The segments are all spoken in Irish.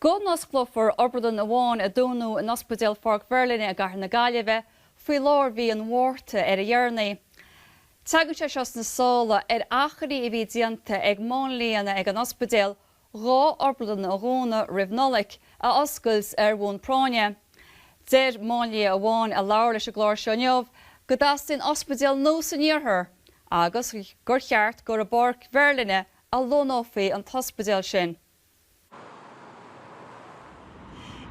go n-osclófar obrádlann amháin a dúnadh in Ospidéal Pháirc Mheirlinne i gcathair na Gaillimhe faoi lár mhí an Mhárta ar a dheireanaí. Teagann sé seo sna sála ar achainí a bhí déanta ag máinlianna ag an ospidéal dhá obrádlann a dhúnadh roimh Nollaig, a oscailt ar bhonn práinne. Deir máinlia amháin a labhair leis an gclár seo inniu go dteastaíonn ospidéal nua san iarthar agus gur cheart gur i bPáirc Mheirlinne a lonnófaí an t-ospidéal sin.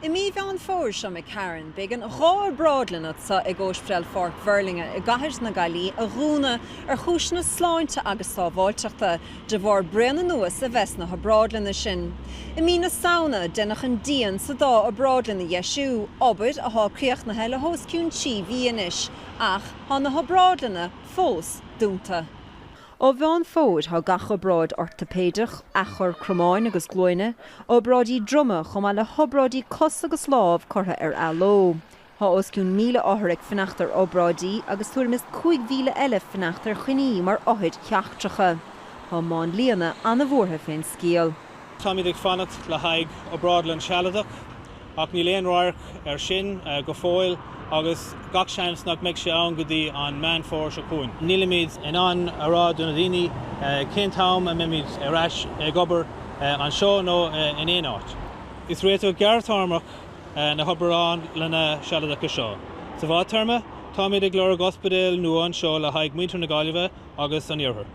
I mí Mheán Fómhair seo imigh tharainn, b'éigean dhá obrádlann atá ag Ospidéal Pháirc Mhuirlinne i gCathair na Gaillimhe a dhúnadh ar chúiseanna sláinte agus sábháilteachta, de bharr braon anuas a bheith sna hobrádlanna sin. I mí na Samhna, deineadh an díon sa dá obrádlann a dheisiú, obair atá críochnaithe le hos cionn trí mhí anois, ach tá na hobrádlanna fós dúnta. Ó Mheán Fómhair, tá gach obráid ortaipéideach, athchur cromáin agus glúine, obráidí droma chomh maith le hobráidí cos agus lámh curtha ar athló. Tá os cionn 1,000 othar ag fanacht ar obráidí agus tuairim is 5,000 eile ag fanacht ar choinní mar othair sheachtracha. Tá máinlianna an-bhuartha fén scéal. Táimid ag fanacht le haghaidh obrádlann sealadach ach níl aon radharc air sin go fóill agus gach seans nach mbeidh sé ann go dtí an Meán Fómhair seo chugainn. Nílimid in ann a rá do na daoine cén t-am a mbeimid ar ais ag obair, anseo nó in aon áit. Is réiteach gearrthéarmach na hobrádlanna sealadacha seo. Sa bhfadtéarma, táimid ag lorg ospidéal nua anseo le haghaidh muintir na Gaillimhe agus an iarthair.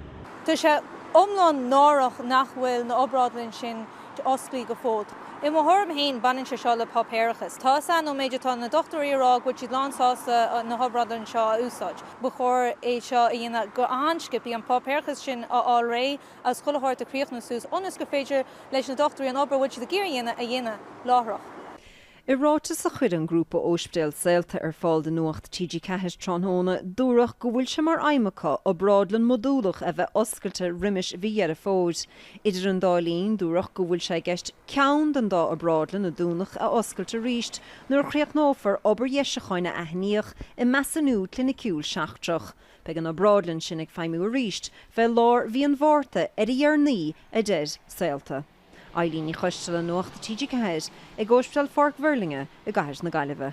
Tá sé iomlán náireach nach bhfuil na obrádlainn sin osclaí go fóill. I mo thuairim fhéin, baineann sé seo le páipéarachas. Tá 'fhios a'm, ón méid atá na dochtúirí a rá go bhfuil siad lán sásta na hobrádlainn seo a úsáid, ba chóir é seo a dhéanamh go han-sciobthaí, an páipéarachas sin a fháil réidh agus chuile shórt a chríochnú suas, ionas gur féidir leis na dochtúirí an obair a bhfuil siad ag iarraidh a dhéanamh, a dhéanamh láithreach. I ráiteas a chuir an grúpa ospidéal Saolta ar fáil do Nuacht TG4 tráthnóna, dúradh go bhfuil sé mar aidhm acu obrádlann mhodúlach a bheith oscailte roimis mhí Dheireadh Fómhair. Idir an dá linn, dúradh go bhfuil sé i gceist ceann den dá obrádlann a dúnadh a oscailt arís nuair a chríochnófar obair dheisiúcháin a aithníodh i measúnú cliniciúil seachtrach. Beidh an obrádlann sin ag feidhmiú arís fé lár mhí an Mhárta ar a dheireanaí, a deir Saolta. Eibhlín Ní Choistealbha, Nuacht TG4, ag Ospidéal Pháirc Mhuirlinne i gCathair na Gaillimhe.